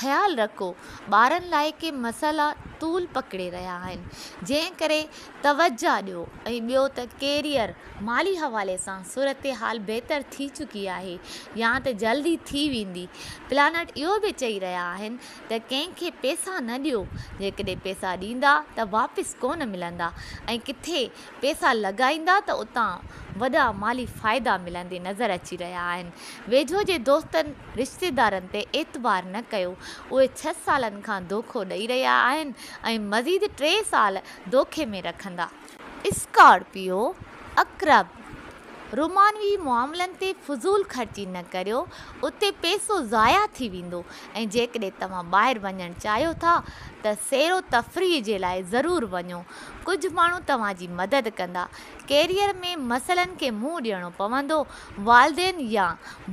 خيال رکو ٻارن لاء ڪي مسئلا طول پڪڙي رهيا آهن جنهن ڪري توجهه ڏيو ۽ ٻيو ته ڪيريئر مالي حوالي سان صورتحال بهتر ٿي چڪي آهي يا ته جلد ئي ٿي ويندي پلانٽ اهو به چئي رهيا آهن ته ڪنهن کي پئسا نه ڏيو جيڪڏهن پئسا ڏيندا ته واپس ڪونه ملندا ۽ ڪٿي پئسا لڳائيندا ته اتان وڏا مالي فائدا ملندي نظر اچي رهيا آهن ويجهو جي دوستن رشتيدارن تي اعتبار نه ڪيو اهي ڇهه سالن کان دوکو ڏئي رهيا آهن ۽ مزيد ٽي سال دوکي ۾ رکندا. اسڪارپيو عقرب رومانوي معاملن تي فضول خرچي نه ڪريو اتي پئسو ضايع ٿي ويندو ۽ جيڪڏهن توهان ٻاهر وڃڻ چاهيو ٿا ته سير و تفريح جي لاء ضرور وڃو ڪجهه ماڻهو توهان جي مدد ڪندا. ڪيريئر ۾ مسئلن کي منهن ڏيڻو پوندو. والدين يا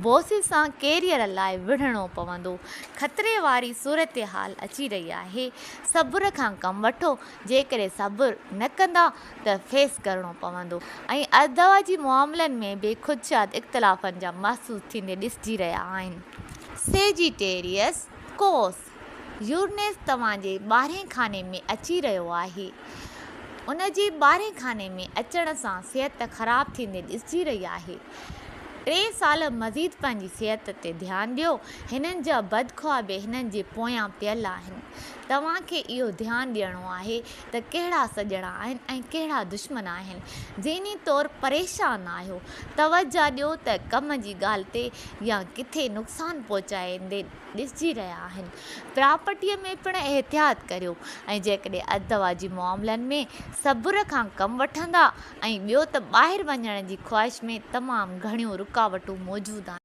باس سان ڪيريئر لاء وڙهڻو پوندو. خطري واري صورتحال اچي رهي آهي. صبر کان ڪم وٺو. جيڪڏهن صبر نه ڪندا ته فيس ڪرڻو پوندو. ۽ الدعوه جي معاملن ۾ به خدشات اختلافن جا محسوس ٿيندي ڏسجي رهيا آهن. سيجيٽيريئس، ڪوس، يورنيس توهان جي ٻارهين خاني ۾ اچي رهيو آهي. ان جي ٻارهين خاني ۾ اچڻ سان صحت خراب ٿيندي ڏسجي رهي آهي. ٽي سال مزيد پنهنجي صحت تي ڌيان ڏيو. هنن جا بدخوابي هنن جي پويان پيل آهن. توهان کي اهو ڌيان ڏيڻو آهي ته ڪهڙا سڄڻا آهن ۽ ڪهڙا دشمن آهن. ذهني طور پريشان آهيو. توجهه ڏيو ته ڪم جي ڳالهه تي يا ڪٿي نقصان پهچائيندي ڏسجي رهيا آهن پراپرٽيء ۾ پڻ احتياط ڪريو ۽ جيڪڏهن ازدواج جي معاملن ۾ صبر کان ڪم وٺندا ۽ ٻيو ته ٻاهر وڃڻ جي خواهش ۾ تمام گهڻيون رڪاوٽون موجود آهن.